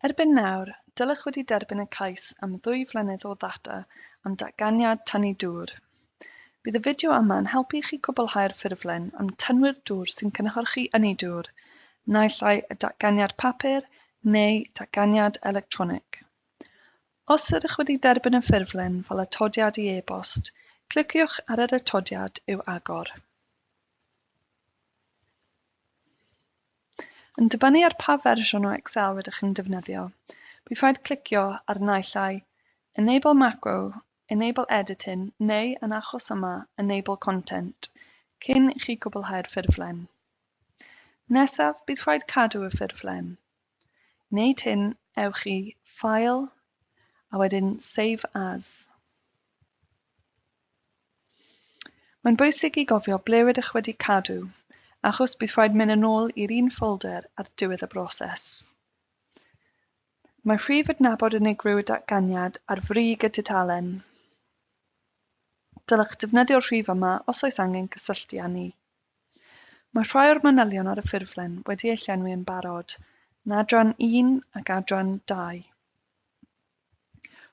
Erbyn nawr, dylech wedi derbyn y cais am ddwy flynedd o ddata am datganiad tynnu dŵr. Bydd y fideo yma yn helpu i chi gwblhau'r ffurflen am tynnwyr dŵr sy'n cynhyrchu ynni dŵr, naill ai y datganiad papur neu datganiad electronig. Os ydych wedi derbyn y ffurflen fel atodiad i e-bost, cliciwch ar yr atodiad i'w agor. Yn dibynnu ar pa fersiwn o Excel rydych chi'n defnyddio, bydd rhaid clicio ar y naill ai Enable Macro, Enable Editing neu, yn achos yma, Enable Content cyn i chi gwblhau'r ffurflen. Nesaf, bydd rhaid cadw y ffurflen. wneud hyn ewch i File a wedyn Save As. Mae'n bwysig i gofio ble rydych wedi cadw achos bydd rhaid mynd yn ôl i'r un ffolder ar diwedd y broses. Mae rhif adnabod unigryw y datganiad ar frig y tudalen. Dylech ddefnyddio'r rhif yma os oes angen cysylltu â ni. Mae rhai o'r manylion ar y ffurflen wedi eu llenwi yn barod yn adran un ac adran dau.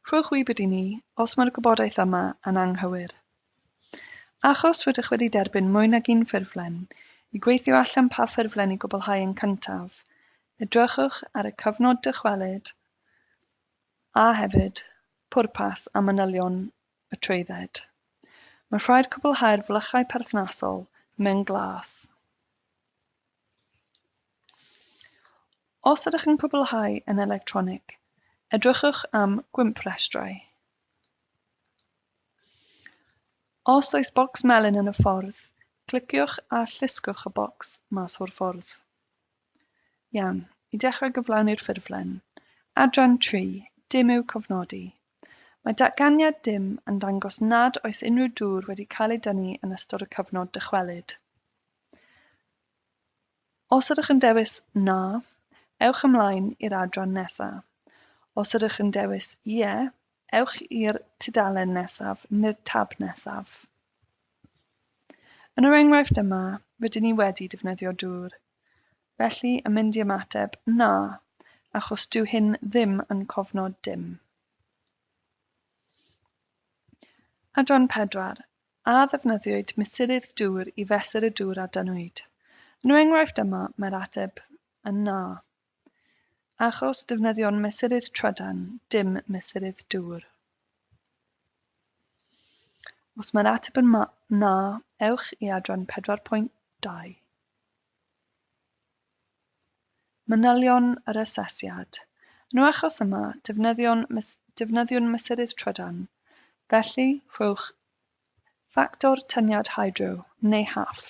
Rhowch wybod i ni os mae'r gwybodaeth yma yn anghywir. Achos rydych wedi derbyn mwy nag un ffurflen, i gweithio allan pa ffurflen i gwblhau yn cyntaf, edrychwch ar y cyfnod dychwelyd a hefyd pwrpas a manylion y trwydded. Mae'n rhaid cwblhau'r flychau perthnasol mewn glas. Os ydych yn cwblhau yn electronig, edrychwch am Gwympwrestrau. Os oes bocs melyn yn y ffordd, cliciwch a llusgwch y bocs mas o'r ffordd. Iawn, i dechrau gyflawni'r ffurflen. Adran tri, dim i'w cofnodi. Mae datganiad dim yn dangos nad oes unrhyw dŵr wedi cael ei dynnu yn ystod y cyfnod dychwelyd. Os ydych yn dewis na, ewch ymlaen i'r adran nesaf. Os ydych yn dewis ie, ewch i'r tudalen nesaf neu'r tab nesaf. Yn yr enghraifft yma, rydyn ni wedi defnyddio dŵr. Felly yn mynd i ymateb, Na, achos dyw hyn ddim yn cofnod dim. Adran 4, A ddefnyddiwyd mesurydd dŵr i fesur y dŵr a dynnwyd? Yn yr enghraifft yma, mae'r ateb yn na. Achos defnyddio'n mesurydd trydan, dim mesurydd dŵr. Os mae'r ateb yn ma, na, ewch i adran 4.2. Manylion yr asesiad. Yn y achos yma, defnyddion mes, defnyddiwn mesurydd trydan, felly rhowch ffactor tyniad hydro, neu HAF.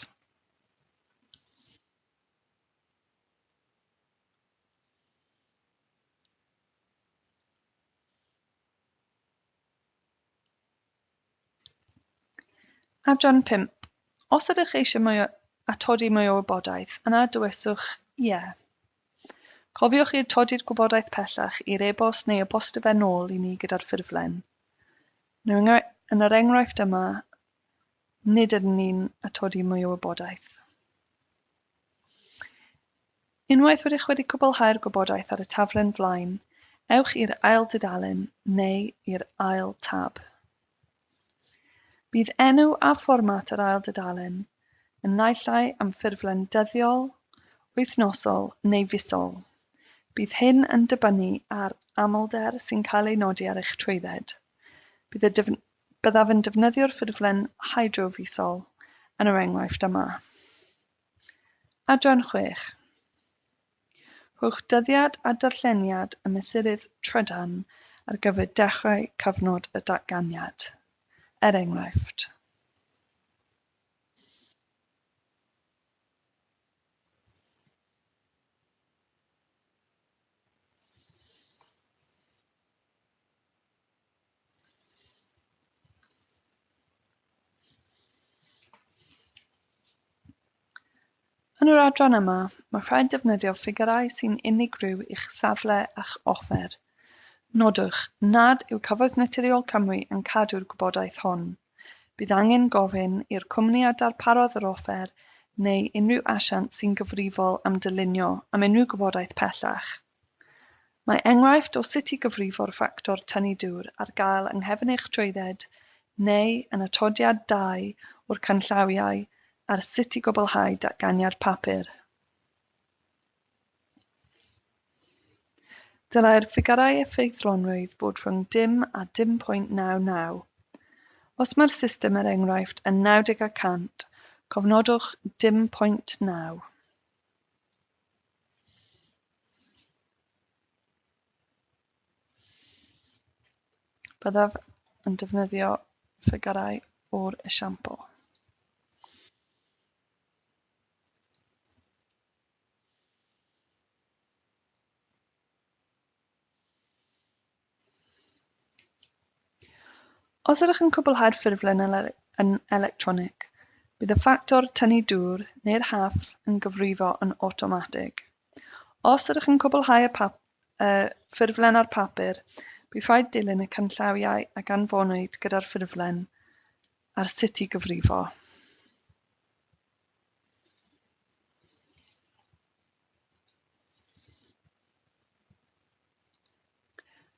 Adran 5. Os ydych eisiau mwy o atodi mwy o wybodaeth, yna dywyswch ie. Cofiwch i'r todi'r gwybodaeth pellach i'r e-bost neu e-bostio fe nôl i ni gyda'r ffurflen. Yn yr enghraifft yma, Nid ydyn ni'n atodi mwy o wybodaeth. Unwaith rydych wedi cwblhau'r gwybodaeth ar y taflen flaen, ewch i'r ail dudalen neu i'r ail tab. Bydd enw a fformat yr ail dudalen yn naillai am ffurflen dyddiol, wythnosol neu fisol. Bydd hyn yn dibynnu ar amlder sy'n cael ei nodi ar eich trwydded. Bydd y Byddaf yn defnyddio'r ffurflen hydrofisol yn yr enghraifft yma. Adran chwech. Rhowch dyddiad a darlleniad y mesurydd trydan ar gyfer dechrau cyfnod y datganiad, er enghraifft. Yn yr adran yma, mae rhaid defnyddio ffigyrau sy'n unigryw i'ch safle a'ch offer. Nodwch nad yw Cyfoeth Naturiol Cymru yn cadw'r gwybodaeth hwn. Bydd angen gofyn i'r cwmni a darparodd yr offer neu unrhyw asiant sy'n gyfrifol am dylunio am unrhyw gwybodaeth pellach. Mae enghraifft o sut i gyfrifo'r ffactor tynnu dŵr ar gael yng nghefn eich trwydded neu yn atodiad dau o'r canllawiau ar sut i gwblhau datganiad papur. Dylai'r ffigyrau effeithlonrwydd fod rhwng dim a 0.99. Os mae'r system er enghraifft yn 90 y cant, cofnodwch 0.9. Byddaf yn defnyddio ffigyrau o'r esiampl. Os ydych yn cwblhau'r ffurflen yn electronig, bydd y ffactor tynnu dŵr neu'r haf yn cyfrifo yn awtomatig. Os ydych yn cwblhau y y ffurflen ar bapur, bydd rhaid dilyn y canllawiau a ganfonwyd gyda'r ffurflen ar sut i gyfrifo.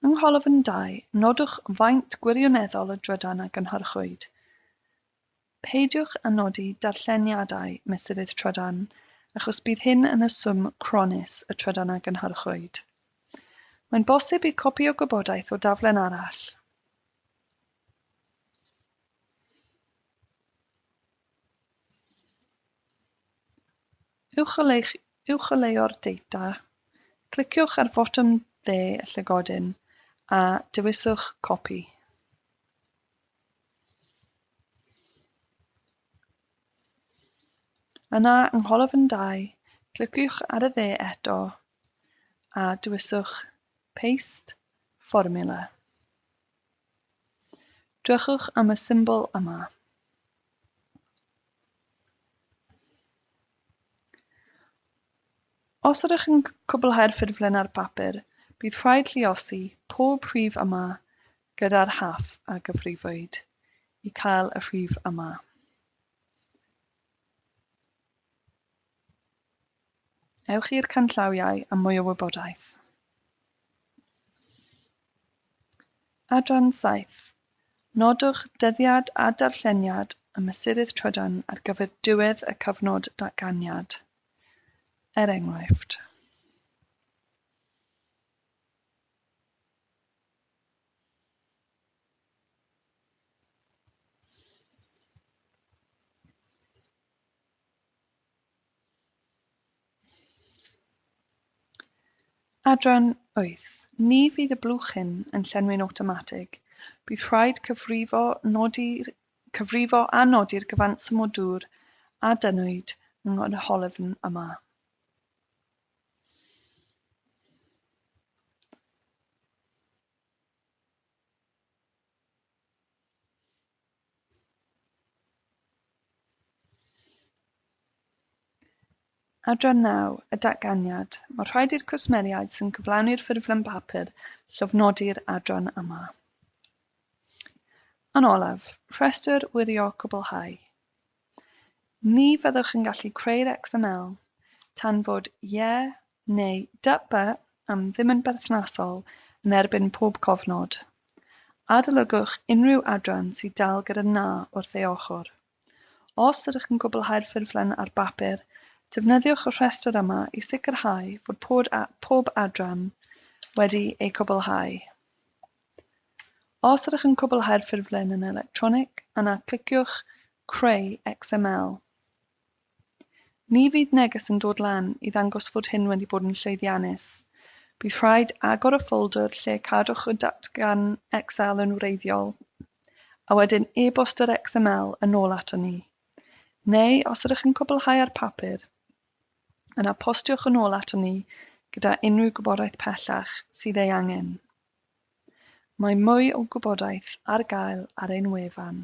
Yng ngholofn dau, nodwch faint gwirioneddol y drydan a gynhyrchwyd. Peidiwch â nodi darlleniadau mesurydd trydan achos bydd hyn yn y swm cronnus y trydan a gynhyrchwyd. Mae'n bosib i copïo gwybodaeth o daflen arall, Uwcholeuo'r data, cliciwch ar fotwm dde y llygodyn a dewiswch Copy. Yna, yng ngholofn 2, cliciwch ar y dde eto a dewiswch Paste Formula. Drychwch am y symbol yma. Os ydych yn cwblhau'r ffurflen ar bapur, bydd rhaid lluosi pob rhif yma gyda'r haf a gyfrifwyd i cael y rhif yma. Ewch i'r canllawiau am mwy o wybodaeth. Adran 7. Nodwch dyddiad a darlleniad y mesurydd trydan ar gyfer diwedd y cyfnod datganiad, er enghraifft. Adran wyth, Ni fydd y blwchyn yn llenwi'n awtomatig. Bydd rhaid cyfrifo, nodi, cyfrifo a nodi'r gyfanswm o dŵr a dynnwyd yng nghynhwylfn yma. Adran 9, y datganiad, Mae rhaid i'r cwsmeriaid sy'n cyflawni'r ffurflen bapur llofnodi'r adran yma. Yn olaf, rhestr wirio cwblhau. Ni fyddwch yn gallu creu'r XML tan fod Ie neu DUP am ddim yn berthnasol yn erbyn pob cofnod. Adolygwch unrhyw adran sydd dal gyda Na wrth ei ochr. Os ydych yn gwblhau'r ffurflen ar bapur, defnyddiwch y rhestr yma i sicrhau fod pob pob adran wedi eu cwblhau. Os ydych yn cwblhau'r ffurflen yn electronig, yna cliciwch Creu XML. Ni fydd neges yn dod lan i ddangos fod hyn wedi bod yn llwyddiannus. Bydd rhaid agor y ffoldr lle cadwch y datgan Excel yn wreiddiol, a wedyn e-bost yr XML yn ôl aton ni. Neu, os ydych yn cwblhau ar papur, yna postiwch yn ôl aton ni gyda unrhyw gwybodaeth pellach sydd ei angen. Mae mwy o gwybodaeth ar gael ar ein wefan.